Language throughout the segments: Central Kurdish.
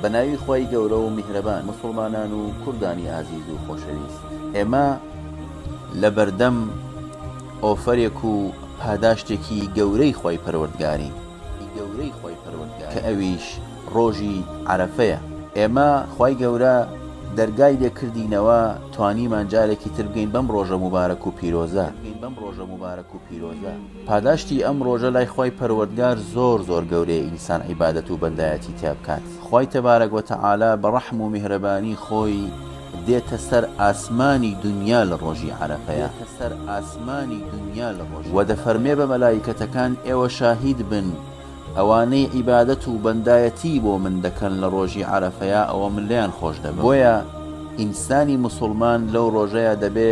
بە ناوی خوای گەورە و میهرەبان موسڵمانان و کوردانی ئازیز و خۆشەویست ئێمە لە بەردەم ئۆفەرێک و پاداشتێکی گەورەی خوای پەروەردگارین کە ئەویش ڕۆژی عەرەفەیە ئێمە خوای گەورە دەرگای لێ کردینەوە توانیمان جارێکی تر بگەین بەم ڕۆژە موبارەک و پیرۆزە. پاداشتی ئەم ڕۆژە لای خوای پەروەردگار زۆر زۆر گەورەیە ئینسان عیبادەت و بەندایەتی تیا بکات خوای تبارک و تعالی بە ڕەحم و میهرەبانی خۆی دێتە سەر ئاسمانی دونیا لە ڕۆژی عەرەفەیا وە دەفەرمێ بە مەلایکەتەکان ئێوە شاهید بن ئەوانەی عیبادەت و بەندایەتی بۆ من دەکەن لە ڕۆژی عەرەفەیا ئەوە من لێیان خۆش دەبم بۆیە ئینسانی موسوڵمان لەو ڕۆژەیا دەبێ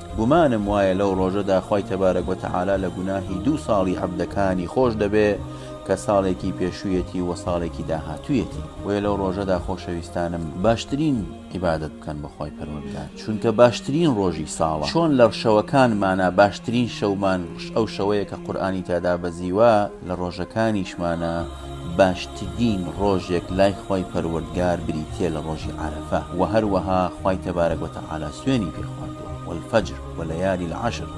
گومانم وایە لەو ڕۆژەدا خوای تبارک و تعالی لە گوناهی دوو ساڵی عەبدەکانی خۆش دەبێ کە ساڵێکی پێشوویەتی و ساڵێکی داهاتوویەتی بۆیە لەو ڕۆژەدا خۆشەویستانم باشترین عیبادەت بکەن بە خوای پەروەردگار چونکە باشترین ڕۆژی ساڵە چۆن لە شەوەکانمانە باشترین شەومان ئەو شەوەیە کە قورئانی تیادا بەزیوە لە ڕۆژەکانیشمانە باشترین ڕۆژێک لای خوای پەروەردگار بریتیە لە ڕۆژی عەرەفە، وە هەروەها خوای تبارک و تعالی سوێنی پێ خواردووە، والفجر ولیال العشر،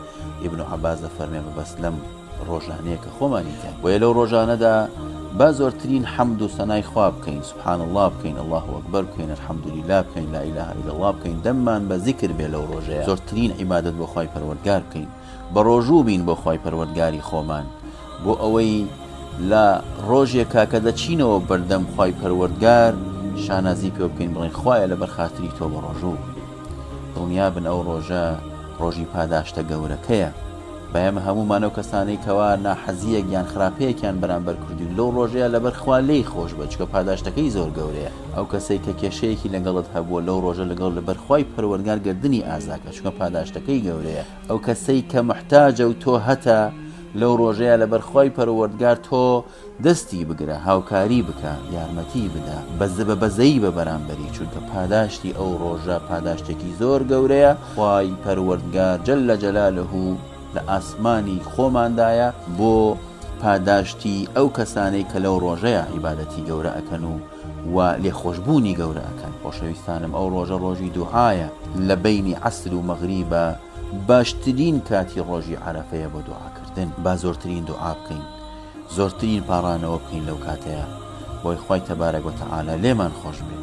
ئیبن عەباس دەفەرمێ مەبەست لەم ڕۆژانەیە کە خۆمانی تیابووە لەو ڕۆژانەدا با زۆرترین حەمد و سەنای خوا بکەین سبحان اللە بکەین اللە اکبر بکەین الحمدللە بکەین لا اله الا اللە بکەین دەممان بە زیکر بێ لەو ڕۆژەیە زۆرترین عیبادەت بۆ خوای پەروەردگار بکەین بەڕۆژوو بین بۆ خوای پەروەردگاری خۆمان بۆ ئەوەی لە ڕۆژێکا کە دەچینەوە بەردەم خوای پەروەردگار شانازی پێ بکەین بڵێن خوایە لە بەرخاتری تۆ بەڕۆژوو بین دڵنیابن ئەو ڕۆژە ڕۆژی پاداشتە گەورەکەیە بەمە هەمومان و کەسانەی کەوا ناحەزیەک یان خراپەیەکیان بەرامبەر کردوین لەو ڕۆژەیە لەبەر خوا لێی خۆش بچکە پاداشتەکەی زۆر گەورەیە ئەو کەسێک کە کێشەیەکی لەگەڵت هەبووە لەو ڕۆژە لەگەڵ لەبەرخوای پەروەرگار گردردنی ئازاکە چونکە پاداشتەکەی گەورەیە ئەو کەسەی کە محتاجە و تۆ هەتە لەو ڕۆژەیە لە بەرخوای پەروەردگار تۆ دەستی بگرە هاوکاری بکە یارمەتی بدە بەزە بە بەزەی بە بەرامبەری چونکە پاداشتی ئەو ڕۆژە پاداشتێکی زۆر گەورەیە خوای پەروەردگار جل لە جەلالە و لە ئاسمانی خۆماندایە بۆ پاداشتی ئەو کەسانەی کە لەو ڕۆژەیە عیبادەتی گەورە ئەکەن و و لێخۆشبوونی گەورە ئەکەن. خۆشەویستانم ئەو ڕۆژە ڕۆژی دوعایە لە بەینی عەسر و مەغریبە باشترین کاتی ڕۆژی عەرەفەیە بۆ دوعاکردن با زۆرترین دوعا بکەین زۆرترین پاڕانەوە بکەین لەو کاتەیە بۆی خوای تەبارەک وتەعالا لێمان خۆش بێ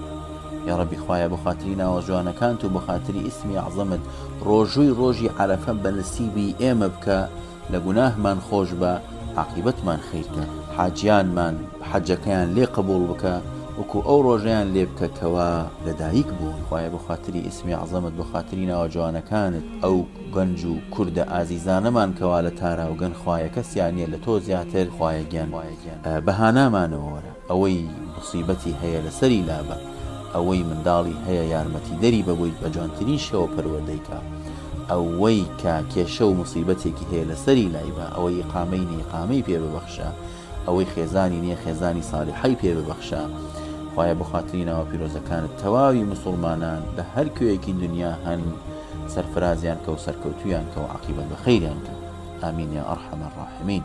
یاڕەبی خوایە بۆ خاتری ناوە جوانەکانت و بۆ خاتری ئیسمی عەزەمت ڕۆژووی ڕۆژی عەرەفە بە نسیبی ئێمە بکە لە گوناهمان خۆش بە عاقیبەتمان خیر کە. حاجیانمان حەجەکەیان لێ قبوڵ بکە وەکو ئەو ڕۆژەیان لێ بکە کەوا لە دایک بوون خوایە بەخاتری ئیسمی عەزەمت بەخاتری ناوە جوانەکانت ئەو گەنج و کوردە ئازیزانەمان کەوا لە تاراوگەن خوایە کەسیان نیە لە تۆ زیاتر خوایە گیان بە هانامانەوە وەرە ئەوەی موسیبەتی هەیە لەسەری لابە ئەوەی منداڵی هەیە یارمەتیدەری بە بۆی بەجوانترین شێوە پەروەردەی کا ئەوەی کە کێشە و موسیبەتێکی هەیە لەسەری لایبە ئەوەی ئقامەی نیقامەی پێ ببەخشە ئەوەی خێزانی نیە خێزانی سالیحەی پێ ببەخشە خوایە بەخاتری ناوە پیرۆزەکانت تەواوی مسوڵمانان لە هەر کوێیەکی دنیا هەن سەرفرازیان کە و سەرکەوتویان کە و عقیبەت بە خەیریان کە ئامین یا ئەرحەمە ڕاحمین